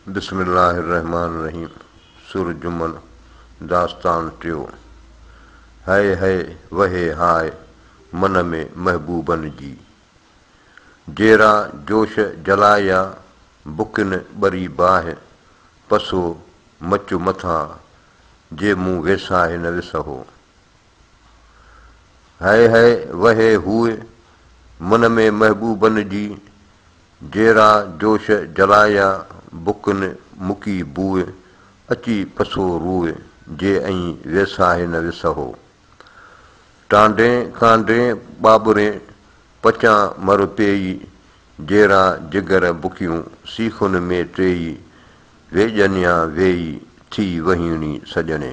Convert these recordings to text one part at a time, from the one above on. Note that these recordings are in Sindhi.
بسم الله الرحمٰن الرحيم سر جمن داستان ٽيو هئي هئي وهي هاء من ۾ محبوبن جي جيرا جوش جلايا بڪن ٻري باهه پسو مچ مٿان جي مون ويساهه نه وسهو هئي هئي وهي هوء من ۾ محبوبن جي جيرا جوش جلايا بکن مڪي بوء اچي پسو روء جي ائين ويساهي نه وسهو ٽانڊين ڪانڊين ٻاٻرين پچان مر پيئي جيرا جگر بکيون سيخن ۾ ٽيئي ويڄنيا ويئي ٿي وهيڻي سڄڻي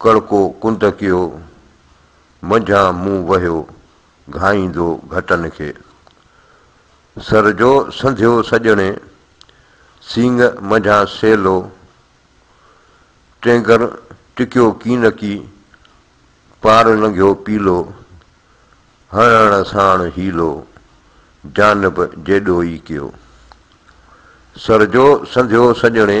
ڪڙڪو ڪنڌڪيو، منجهان مون وهيو گهائيندو گهٽن کي. سر جو سنڌيو سڄڻي، سينگ منجهان سيلو، ٽينگر ٽڪيو ڪينڪي، پار لنگهيو پيلو، هڻڻ ساڻ حيلو، جانب جيڏو ئي ڪيو. سر جو سنڌيو سڄڻي،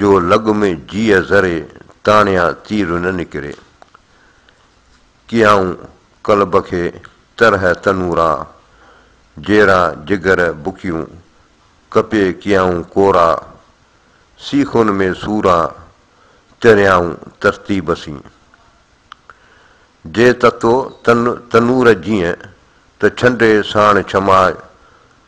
جو لڳ ۾ جيء ذري تاڻيا تير نه نڪري. ڪيائون قلب کي طرح تنورا، جيرا جگر بکيون، ڪپي ڪيائون ڪورا، سيخن ۾ سورا، تريائون ترتيب سين. جي تتو تن تنور جيء ته ڇنڊي ساڻ ڇماء،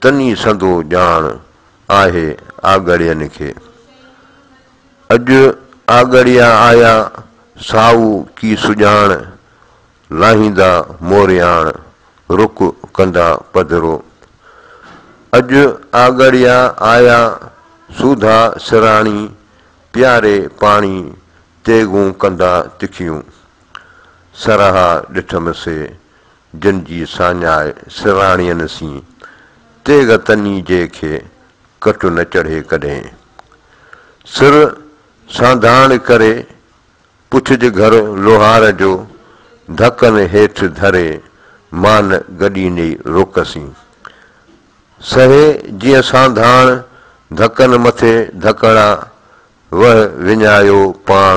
تن ئي سندو ڄاڻ آهي آڳڙين کي. اڄ آڳڙيا آيا سائو ڪي سڄاڻ، لاهيندا مورياڻ رڪ ڪندا پڌرو. اڄ آڳڙيا آيا سوڌا سراڻي، پياري پاڻي تيغون ڪندا تکيون. سرها ڏٺم سي، جن جي ساڃاء سرهاڻين سين، تيغ تني جي کي ڪٽ نه چڙهي ڪڏهين. سر سانڌاڻ ڪري، پڇج گهر لوهار جو، ڌڪن هيٺ ڌري، مان گڏيني روڪ سين. سهي جيئن سانڌاڻ، ڌڪن مٿي ڌڪڻا، وهه وڃايو پاڻ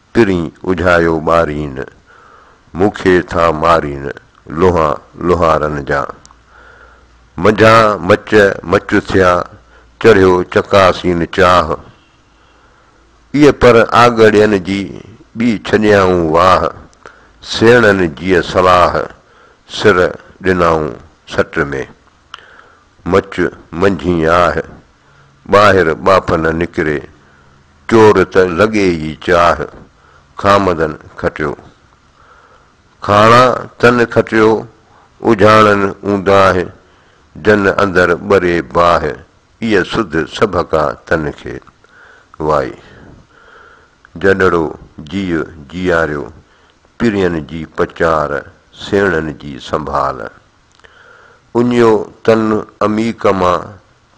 ترين اجهايو ٻارين، مون کي ٿا مارين لوها لوهارن جا. منجهان مچ مچ ٿيا، چڙهيو چڪاسين چاهه. اي پر آڳڙين جي، ٻي ڇڏيائون واهه. سيڻن جيء صلاح، سر ڏنائون سٽ ۾. مچ منجهين آهه، ٻاهر ٻاڦ نه نڪري. چور ته لڳي ئي چاهه، کامدن کٽيو. کاڻا تن کٽيو، اجهاڻن اونداهه، جن اندر ٻري باهه، ايء سڌ سڀ ڪا تن کي. وائي! جڏڙو جيء جياريو، پرين جي پچار، سيڻن جي سنڀال. اڃيو تن اميڪ مان،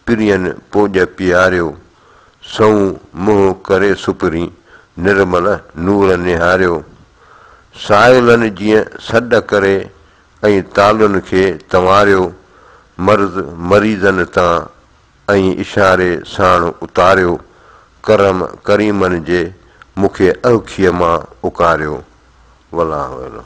پرين پوڄ پياريو، سنئون منهن ڪري سپرين، نرمل نور نهاريو. سائلن جيئن سڏ ڪري، ائين تالن کي تنواريو، مرض مريضن تان، ائين اشاري ساڻ اتاريو، ڪرم ڪريمن جي، مون کي اهکيء مان اڪاريو. والله اعلم.